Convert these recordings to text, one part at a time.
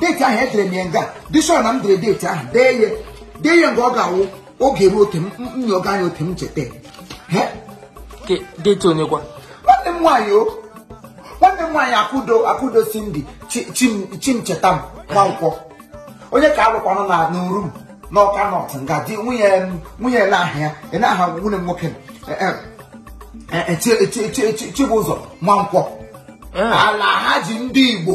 deeti ahụ edere m ya nga bishọp na m dere deeti ahụ dee ya dee ya mgbe ọ ga-awụ oge ruo oke nyoga anya oke m cheta deeti onye kwa nwanne m nwaanyị o nwanne m nwaanyị akụdo akụdo cindy chimchetam nwankwọ onye ka alụkwanụ na n'urum n'ọka north nga di nwunye nwunye ele aha ya ele aha nwanne m nwoke chibụzọ nwankwọ alhaji ndị igbo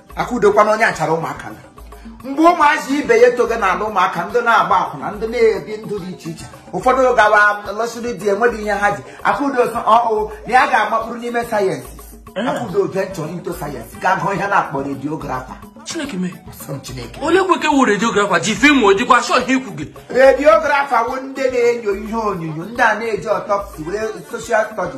akụdokwa na onye achara ụmụaka na mgbe ụmụazị ibe ya etoga n'ala ụmụaka ndị na-agba akwụna ndị na-ebi ndụ dị iche iche ụfọdụ gawa lọsịrị di enweghị ihe ha ji akụdo sị ọ wụ na ya ga-amakpụrụ n'ime science akụdo venture into science gaa gụọ ihe a na-akpọ radiographer chineke mee sọ m chineke olee kweke wụ radiographer ji film o jikwa show ihe ikwu gị radiographer wụ ndị na-enyo ihe onyonyo ndị a na-eji autopsy were social study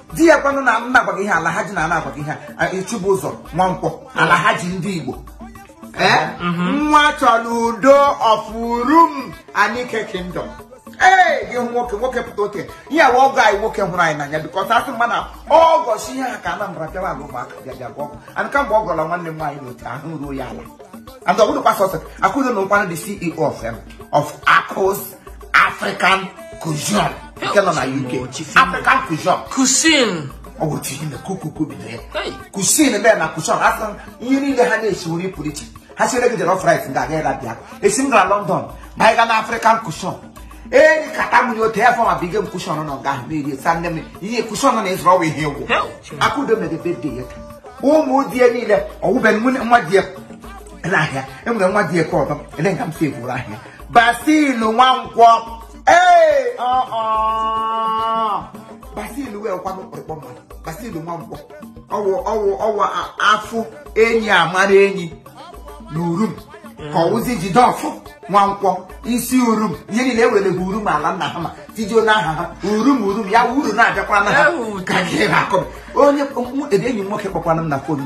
di ya kwanụ na m na-agwa gị ihe alhaji na a na-agwa gị ihe a, chibụzọ nwankwọ alhaji ndị igbo ee nwa chọrọ udo of urum anike kingdom ee gị hụ nwoke nwoke pụta oke ihe ọ wụ ọgọ anyị nwoke hụrụ anyị n'anya because a sị mma na ọgọ si ihe ha ka anambra bịara ala ụmụaka bịa bịa gwa ọgọ and kamgbe ọ gọrọ nwanne m nwaanyị n'otu ahụ ruo ya ala and ọ bụghịkwa sọsọ akụdo na-awụkwanụ the ceo of em of akụs African cuisine nke nọ na UK African cuisine cuisine ọ bụ otu ihe na kukuku bidoro ya cuisine bịa na cuisine a sị ihe niile ha na-esi nri pụrụ iche ha siere gị jollof rice ndị a gaghị abịa esi m gara London ma anyị ga na African cuisine ee kata m otu ya fọma bige m cuisine nọ nga ahụ na-eri sa nne m ihe cuisine nọ na-ezuru ọwa ihe egwu akụdo mere birthday ya ụmụ di ya niile ọwụbe nwa di ya n'ahịa enwere nwa di ya ka ọdọ ele nga m si eburu ahịa Basil Nwankwọ ee Basil wụkwanụ kpọrịkpọ mmadụ Basil Nwankwọ ọ wụ ọ wụ ọ wụ a fụ enyi a mara enyi na urum ka ọ wụzi jideọfọ nwankwọ isi urum ihe niile ewere bụ urum ala nna ha ma tijuo n'aha ha urum urum ya uru na-abịakwa na ha ka gị na-akọ onye enyi m nwoke kpọkwana m na fonu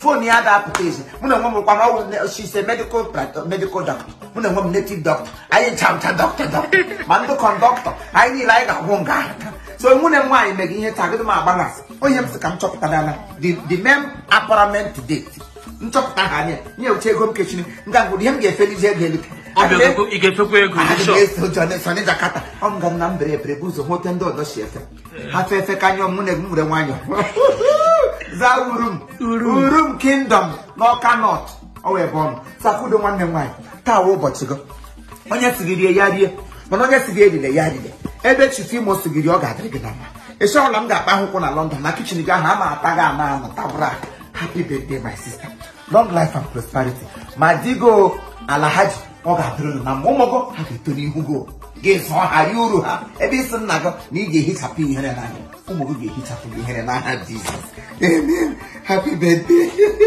fon ya ga-apụta ezi mụ na onwe m kwana ọ wụ she's a medical medical doctor mụ na onwe m native doctor anyị chamcha doctor doctor ma ndị conductor anyị niile anyị ga-agwụ nga ahụ so nwanne m nwaanyị mere ihe tagịdị m agba na onye m sị ka m chọpụta dana the mem apparent date nchọpụta ha anya nye uche ego m kechiri nga ngwụrụ ihe m ga-efelizi ego elu ị ga-efekwa ego Adị m eso ụjọ na-eso na Jakarta ọ m ga m na mbere ebere bụ ụzọ hụ otu ndị ọzọ si efe ha fe efe ka nyọ mụ na onwe m were nwanyọ zaa urum urum kingdom n'ọka north ọ wụ ebe ọ nọ so akụdo nwanne m nwaanyị taa wụ ụbọchị gị onye sị gị rie ya rie mana onye sị gị erile ya erile ebe chief imo sị gị rie ọ ga-adịrị gị na mma ịchọ ọla m ga-akpa akwụkwọ na london na kitchen gị ahụ ama ata gị ama anụ tabụra happy birthday my sister long life and prosperity ma di gị o Alhaji ọ ga-adịrị unu na mma ụmụ gị ha ga-eto n'ihu gị o. gị zụọ ha rie uru ha ebe ị sị nna gị na ị ga-ehichapụ ihere n'anya ụmụ gị ga-ehichapụ gị ihere n'aha Jizọs amen happy birthday